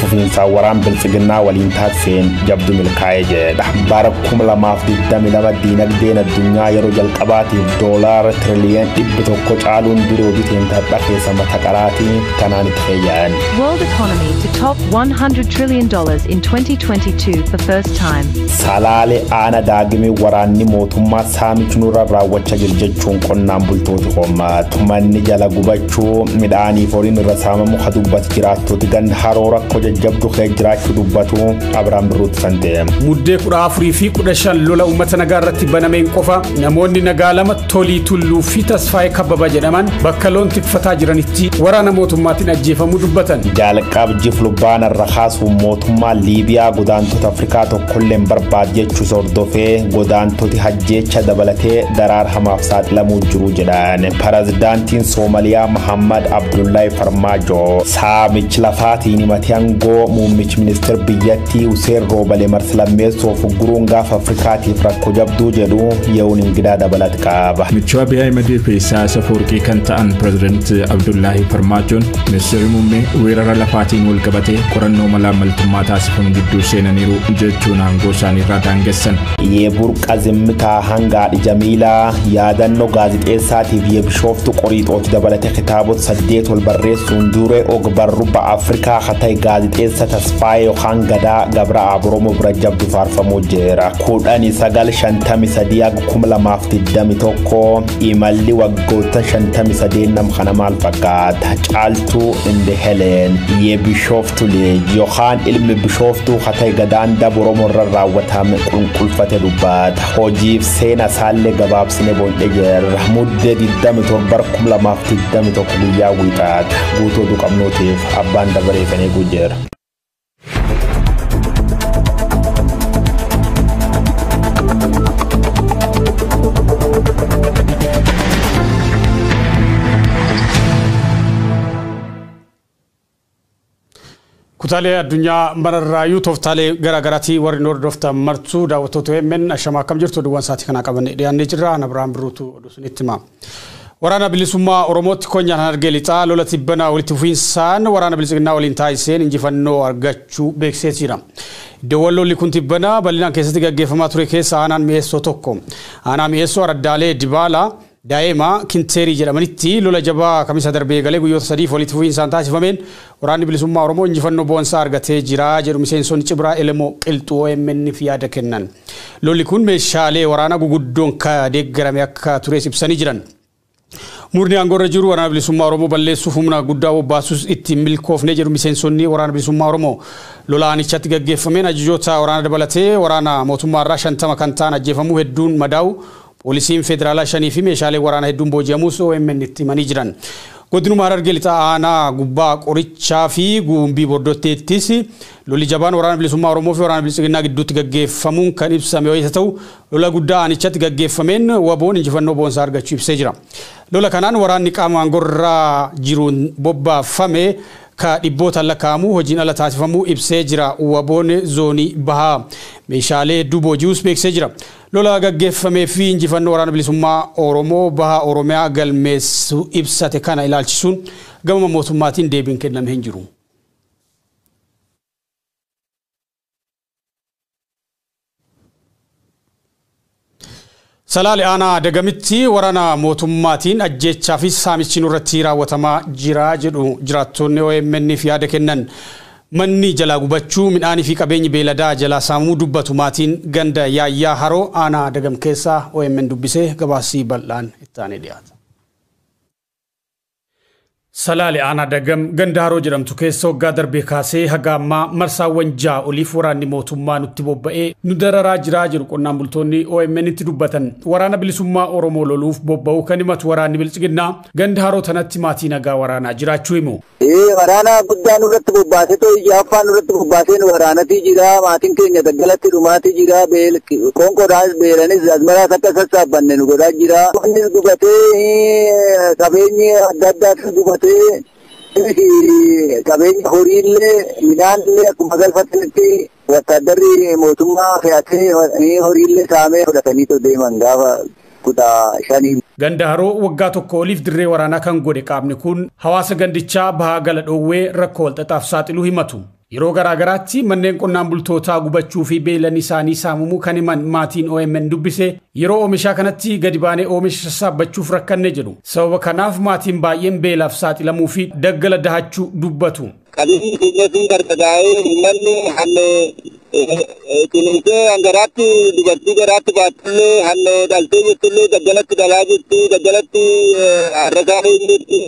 fufiinsaan waraan biltsiginnaa waliin taasiseen jabdu milkaa'e jedha. Bara 2022 diinagdeen addunyaa yeroo jalqabaatiif doolaara tiriliyoon dhibbi tokko caaluun biroo biteen tadha keessa mata qaraatii kanaan itti fayyaan. World economy to top 100 trillion dollars in 2022 for first time. Salaale aana daagimee waraanni mootummaa saamichi nurra raawwacha jir jechuun qonnaan bultooti hoommaatu manni jala gubachuu Rakkoo midhaaniif horiin irra saamamu ka dubbatu jiraattooti ganda haroo rakkoo jajjabdu kee jiraachuu dubbatu Abiraam Birruutti santee. Muddee 14 fi 15 lola uummata nagaa irratti banameen qofa namoonni nagaa lama Tolii Tulluu fi Tasfaayee Kabbaba jedhaman bakka loon tikfataa jiranitti waraana mootummaatiin ajjeefamuu dubbatan. Jaalqaab jiflubbaan irra kaasuun mootummaan Liibiyaa godaantota Afrikaa tokkolleen barbaad jechuus hordofee godaantoti jeecha dabalatee daraar hamaaf saaxilamuu jiru jedhan Pirezidaantiin Soomaliyaa Mahammad Abdullahi Farmaajoo saamichi lafaatiin himatee aangoo muummichi ministeer biyyattii Huseen Roobale marsalammeessoof guruun gaafa Afrikaatiif rakkoo jabduu jedhu ye'uun ingidaa dabalat qaba. Michuu Abiy Ahimad fi Isaayaas Afawarqii kan ta'an Pirezidaant Abdullahi Farmaajoon ministeerri muummee weerara lafaatiin wal qabatee qorannoo malaammaltummaa taasifamu gidduu seenaniiru jechuun aangoo isaaniirraa daangessan. Yeburqa Zimmitaa hanga Haadhi Jamiilaa yaadannoo gaazixeessaatiif Yebishooftu Qoriixooti dabalate kitaabota saddeet ol barreessuun duree ogbarru ba Afrikaa ka ta'e gaazixeessa Tasfaayee yookaan Gadaa Gabra Aaboromoo bira jabdu faarfamuu jira. 1953-2021 imalli waggoottan 53 nam kana maal fakkaata? Caaltuu Inde Heleen Yebishoof tuli yookaan ilmi bishooftuu katee gadaan daba oromoo irra raawwatame qulqulfate dubbata hojiif seena isaallee gabaabsine boon'e jirra muddee 27,2021 guyyaa wiixaata guutuu oduu qabnuutiif abbaan dabaree kan eeguu jira. Kutaalee addunyaa mararraayuu tooftaalee garaa garaatii warri nu hordoftan martuu daawwattoota OMN ashamaa akkam jirtu oduuwwan sa'aatii kanaa qabannee dhiyaannee jirra. Ana Birhaan Birruutu oduu isinitti hima. Waraana bilisummaa Oromootti konyaan Harargee Lixaa lola tibbana walitti fufiinsaan waraana bilisiginnaa waliin taasiseen injifannoo argachuu beeksisee jira. Iddoowwan lolli kun tibbana bal'inaan keessatti gaggeeffamaa ture keessa aanaan mi'eessoo tokko. Aanaa mi'eessoo araddaalee Dibaalaa, Daa'ima Kinteerii jedhamanitti lola jabaa Kamisa darbe eegalee guyyoota sadiif walitti fufiinsaan taasifameen Waraanni Bilisummaa Oromoo injifannoo boonsaa argatee jira jedhu miseensonni Cibraa Elemoo Qilxuu OMN'f yaada kennan. Lolli kun meeshaalee waraanaa guguddoon ka deeggarame akka tures ibsanii jiran. Murni aangoorra jiru Waraana Bilisummaa Oromoo balleessuuf humna guddaa bobbaasus itti hin milkoofne jedhu miseensonni Waraana Bilisummaa Oromoo. Lola aanichatti gaggeeffameen ajajoota waraana dabalatee waraana mootummaarraa 50 kan ta'an ajjeefamuu hedduun madaa'u Poolisiin Federaalaa 5 fi meeshaaleen waraanaa hedduun booji'amuus OMN'tti himanii jiran. Godinuma Harargee Lixaa Aanaa Gubbaa Qorichaa fi Guumbii Bordotteettis lolli jabaan Waraana Bilisummaa Oromoo fi Waraana Biltsiginnaa gidduutti gaggeeffamuun kan ibsame wayita ta'u, lola guddaa aanichatti gaggeeffameen WBO'n injifannoo boonsaa argachuu ibsee jira. Lola kanaan waraanni qaama aangorra jiruun bobbaafame ka dhibbootaan lakkaa'amu hojiin ala taasifamuu ibsee jira. WBO'n Zoonii Bahaa meeshaalee hedduu booji'uus beeksisee jira. Lola gaggeeffamee fi injifannoo Waraana Bilisummaa Oromoo Baha Oromiyaa galmeessu ibsate kana ilaalchisuun gamama mootummaatiin deebiin kenname hin jiru. Salaale aanaa Dagamitti waraana mootummaatiin ajjeechaa fi saamichi nurratti raawwatamaa jira jedhu jiraattoonni OMN'f yaada kennan. Manni jalaa gubachuu, midhaanii fi qabeenyi beeyladaa jalaa saamamuu dubbatu maatiin ganda Yaayyaa Haroo aanaa Dagam keessaa omn dubbise. Gabaasi bal'aan itti aanee dhiyaata. Salaale aanaa Dagam ganda Haroo jedhamtu keessa waggaa darbee kaasee haga ammaa marsaawwan 6 oliif waraanni mootummaa nutti bobba'ee nu dararaa jira jedhu qonnaan bultoonni OMNtti dubbatan. Waraana Bilisummaa Oromoo loluuf bobba'uu kan himatu waraanni Biltsiginnaa Ganda Haroo tanatti maatii nagaa waraanaa jiraachuu himu. Ee waraana guddaa nurratti bobbaasee too ija affaa nurratti bobbaasee nu waraanatii jira maatiin keenya daggalatti dhumaatii jira beel qoonqoodhaas beelanis asmaraas akka sassaabbanne nu godhaa jira wannis gubatee eh, qabeenyi adda addaas gubatee innis qabeenya horiillee midhaanillee akkuma galfatanitti Wattaaddarri mootummaa fe'atee horiillee saamee fudhataniitoo deeman gaafa kudha shanii. Ganda Haroo waggaa tokkoo oliif dirree waraanaa kan godhe qaamni kun hawaasa gandichaa bahaa gala dhoowwee rakkoo walxaxaaf saaxiluu himatu. Yeroo garaa garaatti manneen qonnaan bultootaa gubachuu fi beeylanni isaanii saamamuu kan himan maatiin omn dubbise, yeroo oomishaa kanatti gadi baanee oomisha sassaabbachuuf rakkanne jedhu. Sababa kanaaf maatiin baay'een beelaaf saaxilamuu fi daggala dahachuu dubbatu. Qabeenyi keenya sun barbadaa'ee uummanni hanne ciniinsee hangaraatti dubartii garaatti baattullee hanne dhaltee jirtullee daggalatti dhalaa jirti daggalatti harrasaa jirti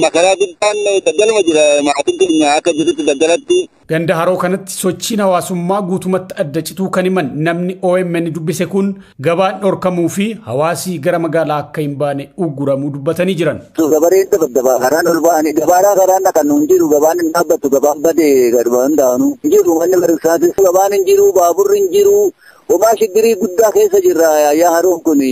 makaraa guddaan daggaluma jira maatiin keenya akka jirutti daggalatti. Ganda haroo kanatti sochiin hawaasummaa guutumatti adda cituu kan himan namni OMN dubbise kun Gabaan dhorkamuu fi hawaasi gara magaalaa akka hin baane ugguramuu dubbatanii jiran. Gabareen dabadabaa karaan ol ba'anii gabaaraa karaan dhaqan hin jiru gabaan hin dhaabbattu gabaan badee gaduma hin daanu hin jiru manni barumsaatis gabaan hin jiru baaburri hin jiru homaa shiggirii guddaa keessa jirra yaa haroon kun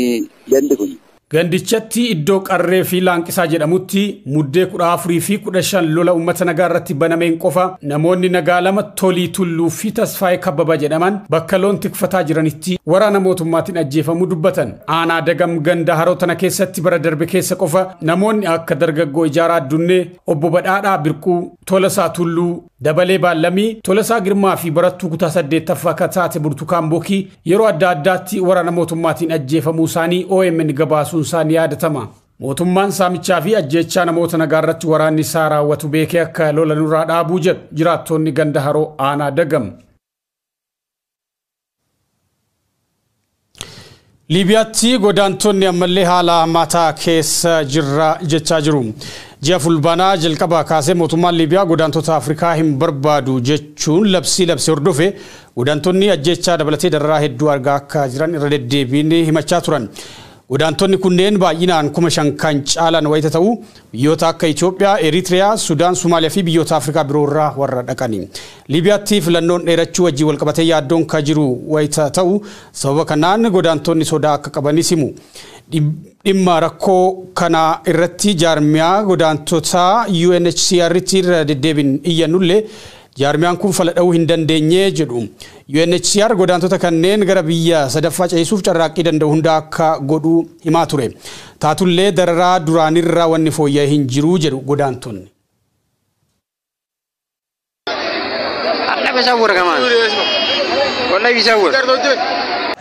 gandi kun. Gandichatti iddoo Qarree fi Laanqisaa jedhamutti Muddee 14 fi 15 lola uummata nagaa irratti banameen qofa namoonni nagaa lama Tolii Tulluu fi Tasfaayee Kabbabaa jedhaman bakka loon tikfataa jiranitti waraana mootummaatiin ajjeefamuu dubbatan. Aanaa Dagam ganda Haroo tana keessatti bara darbe keessa qofa namoonni akka dargaggoo Ijaaraa Addunnee, Obbo Badhaadhaa Birquu, Tolasaa Tulluu, Dabalee Baallamii, Tolasaa Girmaa fi barattuu kutaa 8ffaa ka taate Burtukaan Bokii yeroo adda addaatti waraana mootummaatiin ajjeefamuu isaanii omn gabaasuun isaa ni yaadatama. Mootummaan saamichaa fi ajjeechaa namoota nagaa irratti waraanni isaa raawwatu beekee akka lola nurraa dhaabuu jedhu jiraattoonni ganda Haroo aanaa Dagam. Liibiyaatti godaantonni ammallee haala hammaataa keessa jirra jechaa jiru. Ji'a Fulbaanaa jalqabaa kaasee mootummaan Liibiyaa godaantota Afrikaa hin barbaadu jechuun labsii labse hordofe godaantonni ajjeechaa dabalatee dararaa hedduu argaa akka jiran irra deddeebiin himachaa turan. Godaantonni kunneen baay'inaan kuma shan kan caalan wayita ta'u, biyyoota akka Itoophiyaa, Eritiriyaa, Sudaan, Somaaliyaa fi biyyoota Afrikaa biroo irraa warra dhaqani. Liibiyaatti filannoon dheerachuu wajjin walqabatee yaaddoon ka jiru wayita ta'u, sababa kanaan godaantonni sodaa akka qabanis himu. Dhimma rakkoo kanaa irratti jaarmiyaa godaantotaa UNHCR'tti irra deddeebiin iyyannullee Jaarmiyaan kun fala dhahuu hin dandeenye jedhu. UNHCR godaantota kanneen gara biyya sadaffaa ceesisuuf carraaqqii danda'u hunda akka godhu himaa ture. Taatullee dararaa duraanirra wanni fooyya'e hin jiru jedhu godaantonni.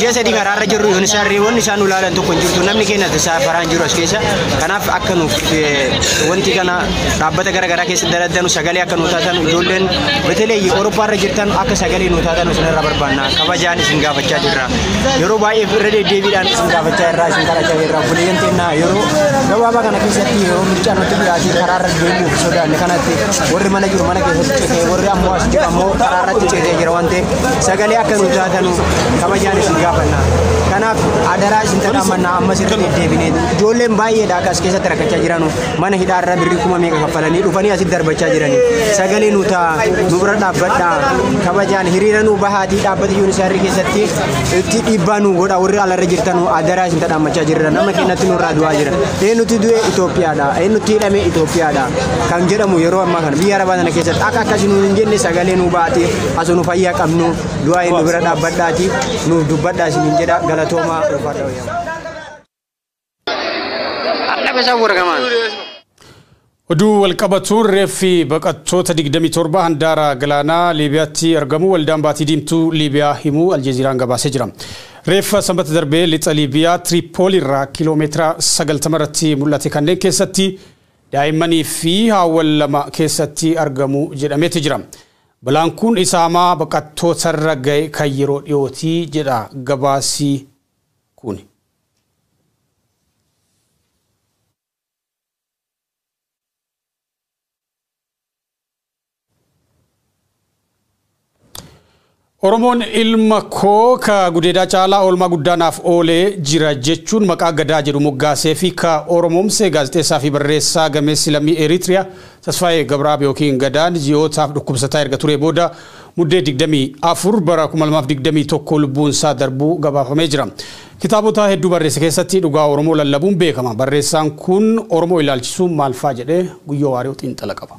ji'a sadii karaarra jirru yoon isaan reewwan isaan nu laalan tokko hin jirtu namni keenya isaa faraan jiru as keessa kanaaf akka nuuf wanti kana dhaabbata gara garaa keessa daladdanu sagalee akka nu taatan ijoolleen betelee Awurooppaa irra jirtan akka sagalee nu taatan isin irra barbaanna kabajaan isin gaafachaa jirra yeroo baay'ee irra deddeebiidhaan isin gaafachaa irraa isin kadhachaa jirra buleeyyan teennaa yeroo gabaabaa kana keessatti yeroo mircaan nutti dhiyaatee karaarra deemuuf sodaanne kanatti warri mana jiru mana keessatti citee warri ammoo as jiru ammoo karaarratti citee jira waan ta'eef sagalee akka nu taatanu kabajaan isin gaafanna. Kanaaf adaraa isin tadhaammanna ammas irra deddeebine ijoolleen baay'eedha akka as keessatti rakkachaa jiranu mana hidhaarra birrii kuma meeqa kaffalanii dhufanii asitti darbachaa jirani sagalee nu ta'a nu bira dhaabbadha kabajaan hiriira nu bahaatii dhaabbata yuunisaarri keessatti itti dhiibbaa nu godha warri alarra jirtanu adaraa isin tadhaammachaa jirra nama keenyatti nurraa du'aa jira eenyutti du'e Itoophiyaadha eenyutti hidhame Itoophiyaadha kan jedhamu yeroo ammaa kana biyya arabaa sana keessatti akka akkasii nu hin jenne sagalee nu baatee asunu fayyaa qabnu du'aa inni bira dhaabbadhaati nuuf dubbadhaa isiniin jedha galatoomaa ulfaadha wayyaa. Oduu walqabatuun reeffi baqattoota 27 handaara galaanaa Liibiyaatti argamu waldaan baatii diimtuu Liibiyaa himuu Aljeeziiraan gabaasee jira. Reeffa sanbata darbee lixa Liibiyaa Tiriipoolii irraa kiiloomeetira 90 irratti mul'ate kanneen keessatti daa'immanii fi haawwan lama keessatti argamu jedhameeti jira. Balaan kun isaamaa baqattootarra gahe kan yeroo dhiyooti jedha gabaasi kuni. Oromoon ilma koo ka gudeedaa caalaa oolmaa guddaa naaf oolee jira jechuun maqaa gadaa jedhu moggaasee fi ka Oromoomse gaazexeessaa fi barreessaa gameessi lammii Eritrea Tasfaayee Gabraab ykn Gadaan ji'ootaaf dhukkubsataa erga turee booda Muddee 24 bara 2021 lubbuunsaa darbuu gabaafamee jira. Kitaabota hedduu barreesse keessatti dhugaa Oromoo lallabuun beekama. Barreessaan kun Oromoo ilaalchisuun maalfaa jedhee Guyyoo Waariyoo xiinxala qaba.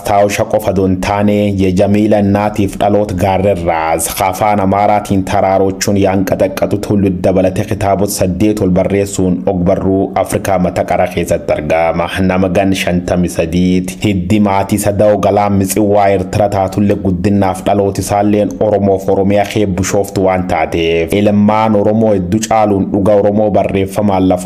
Mastaawosha qofa odo hin taane Ye Jamiila Innaatiif Dhaloot Gaarrerraas ka Afaan Amaaraatiin Taraarochuun Yaanqaxaqqaxut Hullud dabalate kitaabot saddeet ol barreessuun ogbarruu Afrikaa mata qara keessatti argama. Nama gan 53 ti. Hiddi maatii Sadao Galaan Mitsiwwaa Ertira taatulle guddinnaaf dhalooti isaalleen Oromoof Oromiya kee Bushooftu waan taateef ilmmaan Oromoo heddu caaluun dhuga Oromoo barreeffamaan laf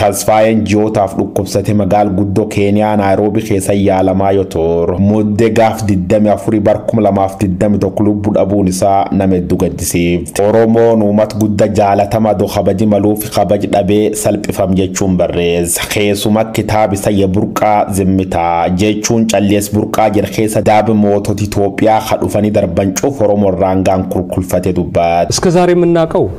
Tasfaayeen ji'ootaaf dhukkubsate magaal guddoo Keeniyaa Naayiroobi keessa yaalamaa yoo tur mudde gaaf 24 bar 2021 lubbu dhabuun isaa nama heddu gaddisiif. Oromoon uumat gudda jaalatama do kabaji maluufi kabaj dhabee salphifam jechuun barreessa. Keesuma kitaab isa ya burqaa zimmitaa jechuun callies burqaa jedh keessa daab moototi Itoophiyaa ka dhufani darban cuf Oromo irraan gaan kulkulfate dubbat. እስከ ዛሬ የምናቀው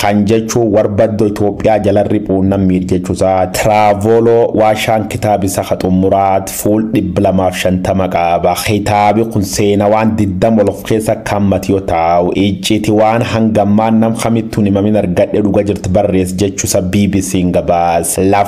Kan jechuu warbaddo Itoophiyaa jalan riphuun nan miir jechu isaa Traavolo Waashaan kitaab isa ka xummuraat fuul 250 qaaba. Kitaabi kun seenawaan 20 ol of keessa akka hammate yoo taau, icciti waan hanga ammaan nam kamittu hin himamin argadhe dhuga jirt barreess jechu isa BBCn gabaas.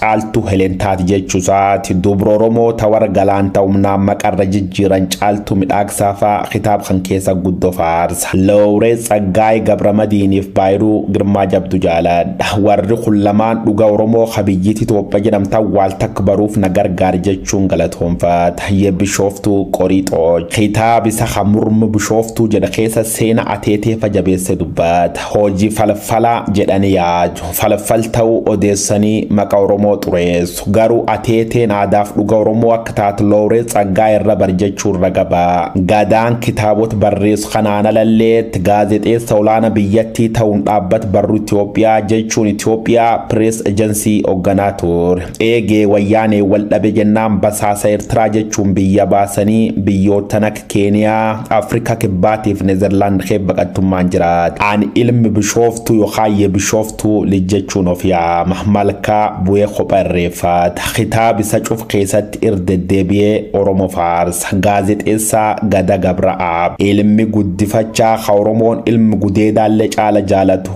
Caaltuu Helen taati jechuusaati. Dubra Oromoo ta warra galaan ta humnaan maqarra jijjiiran Caaltuu Midhaagsaa faa kitaaba kan keessa guddo faarsa. Lowreet Tsaggaayee Gabramadiiniif Baayiruu Girmaa jabdu jaaladha. Warri kun lamaan dhuga Oromoo ka biyyiti Itoophiya jedhamtan waal takk baruuf na gargaari jechuun galatoomfata. Ye Bishooftuu Qoriixooch. Kitaaba isa ka Murma Bishooftuu jedha keessa seena ateetee fa jabeesse dubbata. Hojii falfalaa jedhani yaadu. Falfal ta'uu odeessanii maqa Oromoo xureessu. Garuu Ateeteen aadaaf dhuga Oromoo akka taatu Lawrence Tsaggaayee irra bari jechuun raga ba'a. Gadaan kitaabota barreessu kanaan alalleetti gaazexeessa olaana biyyattii ta'uun dhaabbat barruu Itoophiyaa jechuun Ethiopia Press Agency ogganaa ture. Eegee wayyaaneen wal dhabe jennaan basaasa Ertiraa jechuun biyya baasanii biyyoottan akka Keeniyaa, Afrikaa Kibbaatiif Nezerlaand kee baqattummaan jiraat. Ani ilmi Bishooftuu yookaan ye Bishooftuu lij jechuun of yaama. Malkaa bu'ee kopha irreeffata. Kitaaba isa cuf keessatti ir deddeebi'ee Oromo faarsa. Gaazexeessaa Gada Gabra'aab. Ilmi guddifachaa ka Oromoon ilmi gudeedaallee caala jaalatu.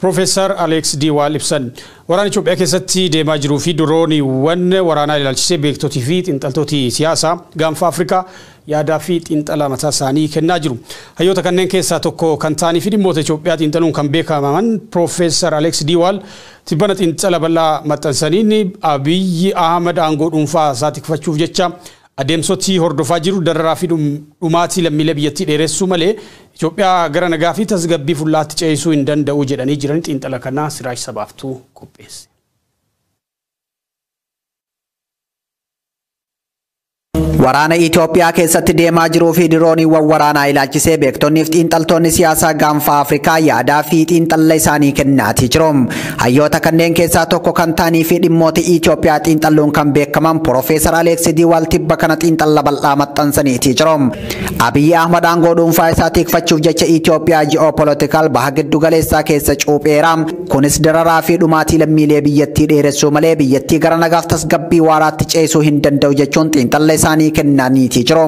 Pirofeesar Aleeks D. Waal ibsan. Waraana Itoophiyaa keessatti deemaa jiruu fi dirooniiwwan waraanaa ilaalchisee beektotii fi xiinxaltooti siyaasaa Gaanfa Afrikaa yaadaa fi xiinxala mataa isaanii kennaa jiru. Hayyoota kanneen keessaa tokko kan ta'anii fi dhimmoota Itoophiyaa xiinxaluun kan beekamaman Pirofeesar Aleeks D. Waal tibbana xiinxala bal'aa maxxansaniin Abiy Ahmad aangoo dhuunfaa isaa tikfachuuf jecha Adeemsoti hordofaa jiru dararaa fi dhumaatii lammiilee biyyattii dheeressuu malee Itoophiyaa gara nagaa fi tasgabbii fullaa'aatti ceesisuu hin danda'u jedhanii jiran Xiinxala kana Siraaj Sabaaftu qopheesse. Waraana Itoophiyaa keessatti deemaa jiruu fi dirooniiwwan waraanaa ilaalchisee beektonni fi xiinxaltoonni siyaasaa gaanfaa Afrikaa yaadaa fi xiinxalla isaanii kennaatii jiru. Hayyoota kanneen keessaa tokko kan ta'anii fi dhimmoota Itoophiyaa xiinxalluun kan beekaman Piroofeesar Aleeksi Diwaal tibba kana xiinxalla bal'aa maxxansaniitii jiru. Abiyyi Ahmad aangoo dhuunfaa isaa tikfachuuf jecha Itoophiyaa ji'oopolitikaal baha giddu galeessaa keessa cuupheera. Kunis dararaa fi dhumaatii lammiilee biyyattii dheeressuu malee biyyattii gara nagaaf tasgabbii waaraatti ceesuu hin danda'u jechuun xiinxalla isaanii kennaniitii jiru.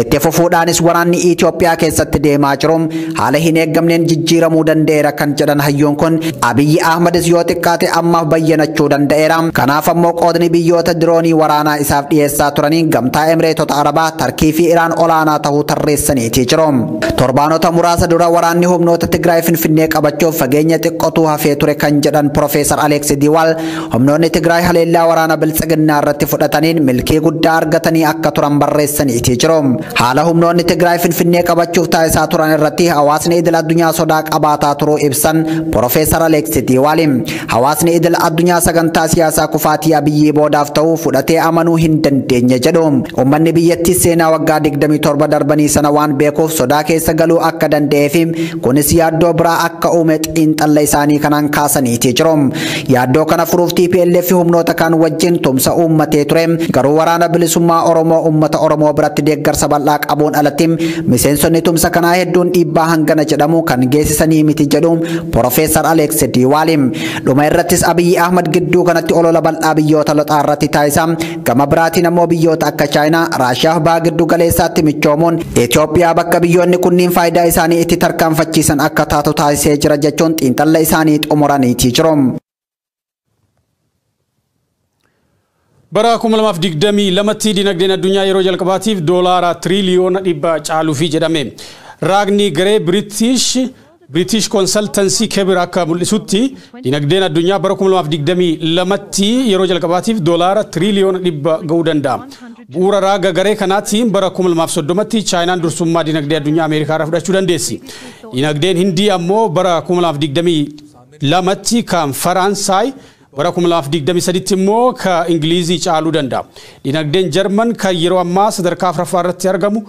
Itti fufuudhaanis waraanni Itoophiyaa keessatti deemaa jiru haala hin eeggamneen jijjiiramuu danda'eera kan jedhan hayyoon kun Abiyyi Ahmadis yoo xiqqaate ammaaf bayyanachuu danda'eera. Kanaaf ammoo qoodni biyyoota diroonii waraanaa isaaf dhiyeessaa turanii gamtaa Emireetota Arabaa, Tarkii fi Iraan olaanaa tahuu tarreessaniitii jiru. Torbaanota muraasa dura waraanni humnoota Tigraay Finfinnee qabachuuf fageenya xiqqotuu hafee ture kan jedhan Profeesar Aleeksi Diwaal Humnoonni Tigraay haleellaa waraana biltsiginnaa irratti fudhataniin milkii guddaa argatanii akka turan barreessaniitii jiru. Haala humnoonni Tigraay Finfinnee qabachuuf taasisaa turan irratti hawaasni idil addunyaa sodaa qabaataa turuu ibsan Profeesar Aleeksi Tiiwaali. Hawaasni idil addunyaa sagantaa siyaasaa kufaatii Abiyyii boodaaf ta'u fudhatee amanuu hin dandeenye jedhu. Uummanni biyyattii seenaa waggaa 27 darbanii sana waan beekuuf sodaa keessa galuu akka danda'ee fi kunis yaaddoo biraa akka uume xiinxalla isaanii kanaan kaasaniitii jiru. Yaaddoo kana furuuf tplf humnoota kaan wajjin tumsa uummatee ture. Garuu Waraana Bilisummaa Oromoo uummata Oromoo biratti deeggarsa bal'aa qabuun alatti miseensonni tumsa kanaa hedduun dhiibbaa hangana jedhamu kan geessisanii miti jedhu Porofeesar Aleeks Diwaali. Dhuma irrattis Abiyyi Ahmad gidduu kanatti olola bal'aa biyyoota loxaa irratti taasisaa Gama biraatiin ammoo biyyoota akka Chaayinaa, Raashiyaaf baha giddu galeessaatti michoomuun Itoophiyaa bakka biyyoonni kunniin faayidaa isaanii itti tarkaanfachiisan akka taatu taasisee jira jechuun xiinxalla isaanii xumuraniitii jiru. Bara 2022tti dinagdeen addunyaa yeroo jalqabaatiif doolaara tiriiliyoona dhibba caaluufi jedhame. Raagni garee Biriitish British Consultancy Kebir akka mul'isutti, dinagdeen addunyaa bara 2022tti yeroo jalqabaatiif doolaara tiriiliyoona 100 ga'uu danda'a. Bu'uura raaga garee kanaatiin bara 2030tti Chaayinaan dursummaa dinagdee addunyaa Ameerikaarra fudhachuu dandeessi. Dinagdeen Hindii ammoo bara 2022tti kan Faraansaay, bara 2023tti immoo ka Ingiliizii caaluu danda'a. Dinagdeen Jarman kan yeroo ammaa sadarkaa 4ffaarratti argamu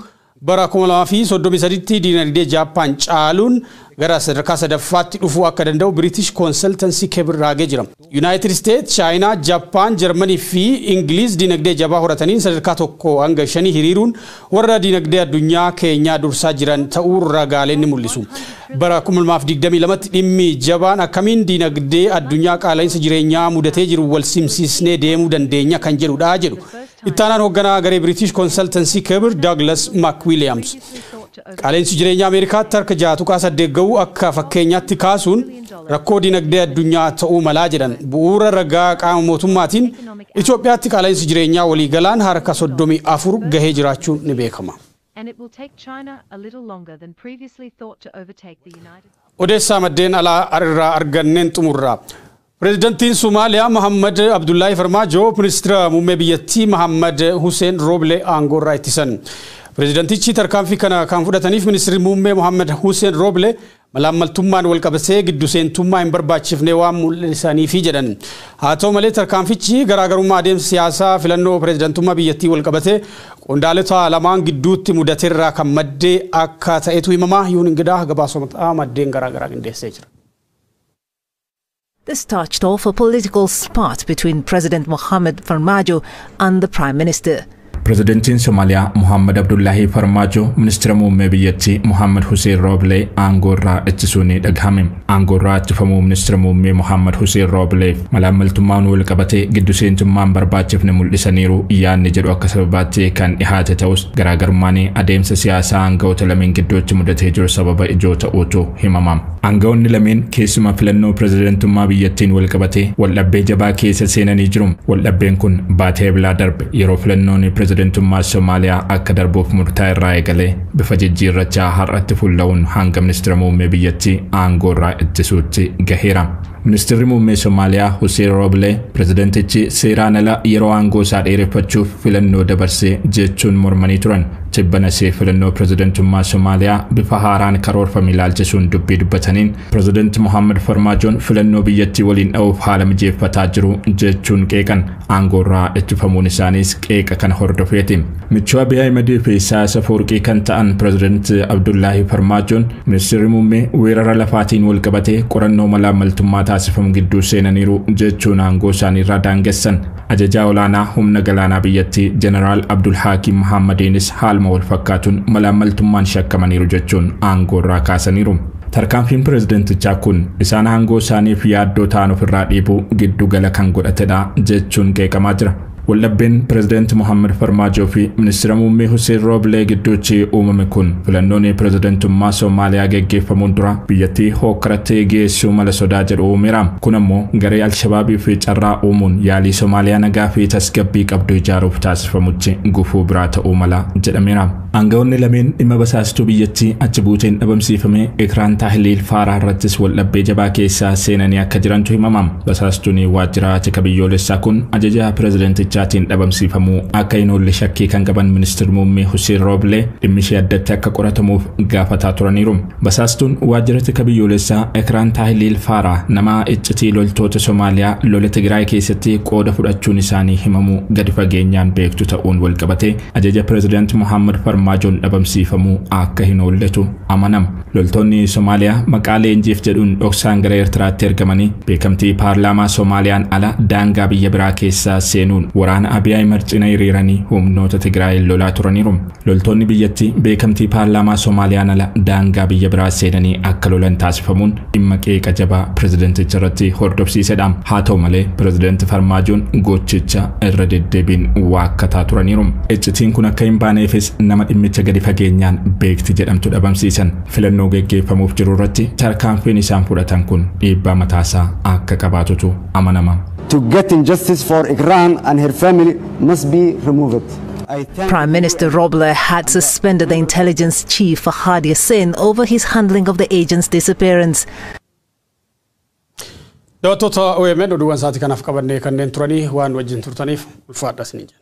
Bara 2033tti diinagdee Jaappaan caaluun gara sadarkaa sadaffaatti dhufuu akka danda'u Biritish Konsaltansii Kebir raagee jira. Yunaayitid Isteet, Chaayinaa, Jappaan, Jarmanii fi Ingiliiz diinagdee jabaa horataniin sadarkaa 1-5 hiriiruun warra diinagdee addunyaa keenyaa dursaa jiran ta'uu ragaaleen ni mul'isu. Bara 2022tti dhimmi jabaan akkamiin diinagdee addunyaa qaala'insa jireenyaa mudatee jiru walsimsiisnee deemuu dandeenya kan jedhudha jedhu Ittaanaan hoogganaa garee Biriitish Konsaltansii Kebir Douglas McWilliams qaala'insi jireenyaa Ameerikaatti harka 6.8 ga'uu akka fakkeenyaatti kaasuun rakkoo dinagdee addunyaa ta'uu malaa jedhan bu'uura ragaa qaama mootummaatiin Itoophiyaatti qaala'insi jireenyaa waliigalaan harka 34 gahee jiraachuun ni beekama. Odeessaa maddeen alaa irraa arganneen xumurra. Pireezidantiin Somaaliyaa Mahaammad Abdullaahi Farmaajoo Ministira Muummee biyyattii Mahaammad Huseen Rooble aangoorraa ittisan. Pireezidantichi tarkaanfii kana kan fudhataniif Ministirri Muummee Mahaammad Huseen Rooble malaammaltummaan walqabatee giddu seentummaa hin barbaachifne waan mul'isaniifi jedhan. Haa ta'u malee tarkaanfichi garaagarummaa adeemsa siyaasaa filannoo pireezidantummaa biyyattii walqabatee qondaalota lamaan gidduutti mudaterraa kan madde akka ta'etu himama. Yuun Ingidaa gabaasota maddeen garaagaraa qindeessee jira. This touched off a political spat between President Mohamed Farmajo and the Prime Minister. Pirezidantiin Somaaliyaa Mohaammed Abdullaahii Farmaajoo ministeera muummee biyyattii Mohaammed Huseen Rooblee aangoo irraa ittisuu ni dhagahame. Aangoo irraa ittifamuu ministeera muummee Mohaammed Huseen Roobleef malaammaltummaan wal qabatee giddu seentummaan barbaachifne mul'isaniiru yaadni jedhu akka sababaatti kan dhihaate ta'us garaagarummaan adeemsa siyaasaa aangawoota lameen gidduutti mudatee jiru sababa ijoo ta'uutu himama. Aanga'oonni lameen keessumaa filannoo pirezidantummaa biyyattiin walqabatee waldhabbee jabaa keessa seenanii jiru. Waldhabbeen kun baatii Eblaa darbe yeroo filannoon pirezidantummaa Somaaliyaa akka darbuuf murtaa'e irraa eegalee bifa jijjiirrachaa har'atti fuulla'uun hanga ministira muummee biyyattii aangoo irraa ittisuutti gaheera. Ministirri Muummee Somaaliyaa Huseen Rooblee pirezidantichi seeraan ala yeroo aangoo isaa dheereffachuuf filannoo dabarse jechuun mormanii turan. Tibbanas filannoo pirezidantummaa Somaaliyaa bifa haaraan karoorfame ilaalchisuun dubbii dubbataniin pirezidanti Mohaammed Farmaajoon filannoo biyyattii waliin dha'uuf haala mijeeffataa jiru jechuun qeeqan. aangoorraa ittifamuun isaaniis qeeqa kana hordofeeti. Michuu Abiy Ahimedii fi Isaayaas Afawarqii kan ta'an Pireezidant Abdullaahi Farmaajoon Ministeerri Muummee weerara lafaatiin walqabatee qorannoo malaammaltummaa taasifamu gidduu seenaniiru jechuun aangoo isaaniirraa daangessan. Ajajaa olaanaa humna galaanaa biyyattii Jeneraal Abdulhaakiim Mahaammadiinis haaluma walfakkaatuun malaammaltummaan shakkamaniiru jechuun aangoorraa kaasaniiru. Tarkaanfiin pirezidantichaa kun isaan aangoo isaaniif yaaddoo ta'an ofirraa dhiibuu giddu gala kan godhatedha jechuun qeeqamaa jira. Waldhabbeen pirezidanti Mohaammed Farmaajoo fi ministira muummee Huseen Rooblee gidduutti uumame kun filannoon pirezidantummaa Soomaaliyaa geggeeffamuun dura biyyattii hookkaratti geessuu mala sodaa jedhu uumeera. Kun ammoo garee Alshabaabiif carraa uumuun yaalii Soomaaliyaa nagaa fi tasgabbii qabdu ijaaruuf taasifamutti gufuu biraa ta'uu mala jedhameera. Aanga'oonni lameen dhimma basaastuu biyyattii achi buuteen dhabamsiifame Ikraan Tahliil Faaraah irrattis waldhabbee jabaa keessa seenanii akka jirantu himama. Basaastuun waajjiraa tika biyyoolessaa kun ajaja pirezidantichaatiin dhabamsiifamuu akka hin oolle shakkii kan qaban Ministir Muummee Huseen Rooblee dhimmishee addatti akka qoratamuuf gaafataa turaniiru. Basaastuun waajjira tika biyyoolessaa Ikraan Tahliil Faaraah nama iccitii loltoota Somaaliyaa lola Tigiraay keessatti qooda fudhachuun isaanii himamu gadi fageenyaan beektu ta'uun walqabatee Ajaja Pireezidaanti Mohaammed Farmaajoon dhabamsiifamuu akka hin oolletu amanama. Loltoonni Somaaliyaa maqaa leenjiif jedhuun dhoksaan gara Eertiraatti ergamanii beekamtii paarlaamaa Somaaliyaan ala daangaa biyya biraa keessa seenuun waraana Abiy Ahimad cina hiriiranii humnoota Tigraayiin lolaa turaniiru. Loltoonni biyyattii beekamtii paarlaamaa Somaaliyaan ala daangaa biyya biraa seenanii akka lolan taasifamuun dhimma qeeqa jabaa pirezidanticha irratti hordofsiisedha. Haa ta'u malee pirezidanti Farmaajoon gochicha irra deddeebiin waakkataa turaniiru. Iccitiin kun akka hin baaneefis nama dhimmicha gadi fageenyaan beekti jedhamtu dhabamsiisan. Filannoo geggeeffamuuf jiru irratti tarkaanfiin isaan fudhatan kun dhiibbaa mataasaa akka qabaatutu amanama. To get in justice for Iqraan and her family must be removed. Prime Minister Roble had suspended the intelligence chief Fahad Yassin over his handling of the agent's disappearance. Daawwattoota OMN oduuwwan sa'aatii kanaaf qabannee kanneen turanii waan wajjin turtaniif ulfaadha isin jenna.